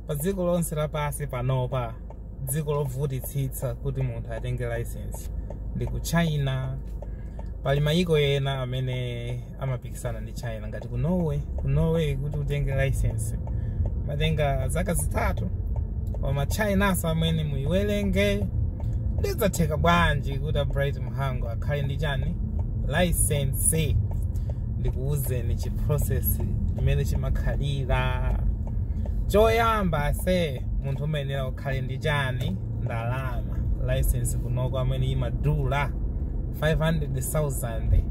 pa dziko lonse lapansi panopa dziko lovutitsitsa kuti munthu atenge license ndi ku china pali mayiko ena amene amapikisana ndi china ngati ku norway ku norway kuti utenge license matenga zaka zitatu koma chinanso amwene muyiwerenge zidzatheka bwanji kuti a bright mhango akhale ndi chani license ndikuwuzeni chi process chimene chimakhalira choyamba ase munthu umayenera ukhale ndi chani ndalama license kunoko amwene imadula 500000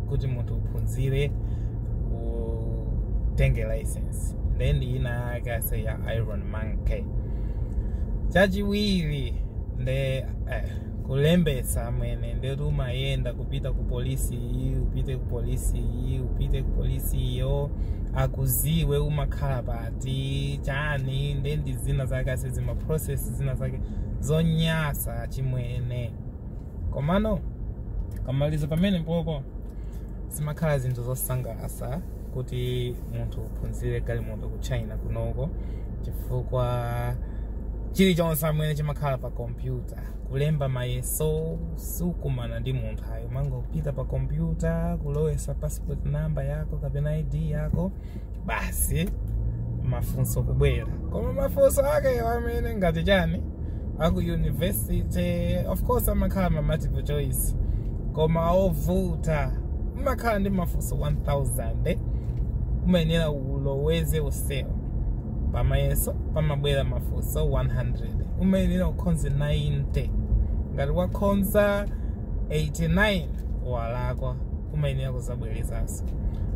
kuti munthu uphunzire utenge license nde ndi ina yake ase ya iron monkey chachiwiri nde eh, kulembetsa amwene ndeti umayenera kupita ku polisi iyi upite ku polisi iyi upite ku polisi iyo akuziwe umakhala pati chani nde ndi zina zake ase zima process zina zake zonyasa chimwene komano kamalizo pamenepopo zimakhala zinthu zosangalatsa kuti munthu uphunzire galimoto ku china kunoko chifukwa chilichonse amwene chimakhala pa kompyuta kulemba mayeso sukumana ndi munthu ayi umangopita pa kompyuta kulowesa passport number yako kapena id yako basi mafunso kubwera koma mafunso ake amwene ngati chani aku university of course amakhala ma multiple choice koma ovuta umakhala ndi mafunso 1000 umayenera uloweze onsewo pamayeso pamabwera mafunso 100 umayenera ukhonze 90 ngati wakhonza 89 walakwa umayenera kuzabwerezanso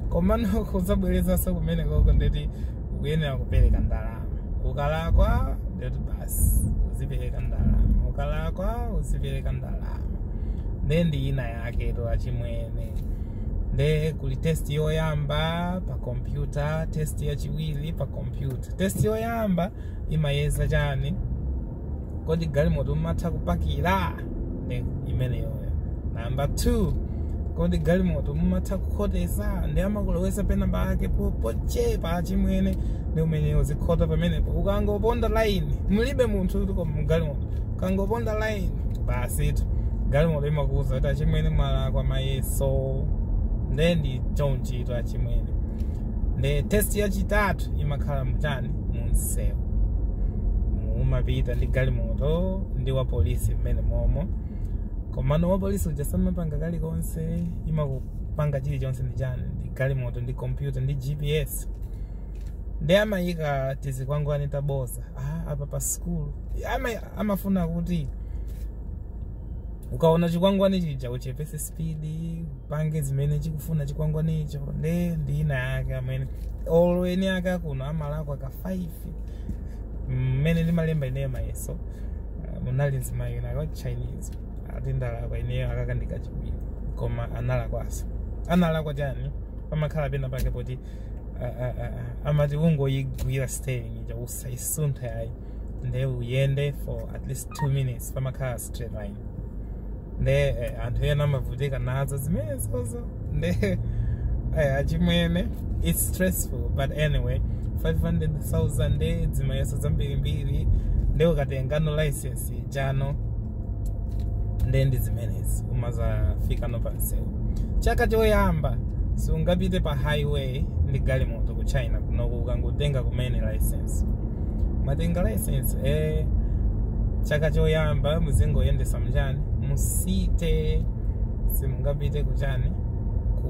komano kuzabwerezanso kumenekoko ndeti ukuyenera kupereka ndalama ukalakwa ndeti basi uzipereka ndalama ukalakwa uzipereka ndalama nde ndi ina yaketu achimwene nde kuli test yoyamba pa kompyuta test yachiwiri pa kompyuta test yoyamba imayeza chani kodi galimoto mumatha kupakira ndi imeneyoyo namba 2 kodi galimoto mumatha kukhotesa nde amakulowesa pena pake po- pochepa achimwene ndi umene uzikhota pamenepo ukangoponda laini mulibe munthu uliko mgalimoto ukangoponda laini basitu galimoto imakuuza kuti achimwene mwalakwa mayeso ndendi chonchi achimwene nde test yachitatu imakhala mchani munsewu umapita ndi galimoto ndi wapolisi mmene momo komano wapolisi uja samapanga kalikonse imakupanga chilichonse ndi chani ndi galimoto ndi kompyuta ndi gps nde amayika tizikwangwani taboza ah, apa pa sikulu ama, amafuna kuti ukaona chikwangwani chija uchepese spidi pange zimene chikufuna chikwangwanicho nde ndi ina yake amene olo eni ake akuno amalakwa ka 5 mmene ndimalemba ineyo mayeso ah, munali mzimayi wina wa chinese ati ndalakwa ineyo akakandika chiwiri koma analakwaso analakwa chani pamakhala pena pake poti ah, ah, ah, ah, amati ungoyigwira steering ija usayisunthe ayi nde uyende for at least two minutes pamakhala straight line nde eh, anthu ena amavutika nazo zimenezozo nde eh, achimwene it's stressful but anyway 500000 nde dzimayeso zambirimbiri nde ukatengano license chano nde ndi zimenezi umazafikano pa msewu chaka choyamba sungapite pa highway ndi galimoto ku china kunoku ukangotenga kumene license matenga license eh chaka choyamba muzingoyendesa mchani mu city simungapite kuchani ku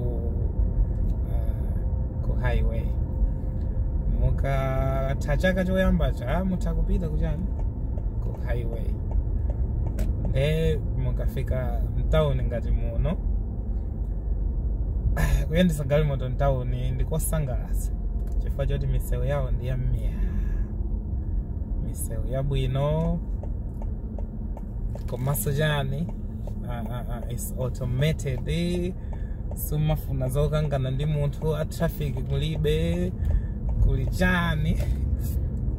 uh, ku highway mukatha chaka choyambacho mutha kupita kuchani ku highway nde mukafika mtawuni ngati muno kuyendetsa galimoto mtawuni ndi kosangalatsa chifukwa choti misewu yawo ndi yammiya misewu yabwino komanso chani ah, ah, ah, is automated sumafuna zokangana ndi munthu a traffic kulibe kuli chani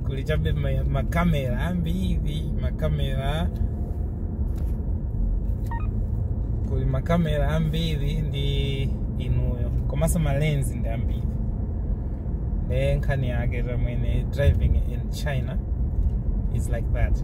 kuli chabe ma- makamera ambiri makamera kuli makamera ambiri ndi inuyo komanso malenzi ndi ambiri nde nkhani yake amwene driving in china is like that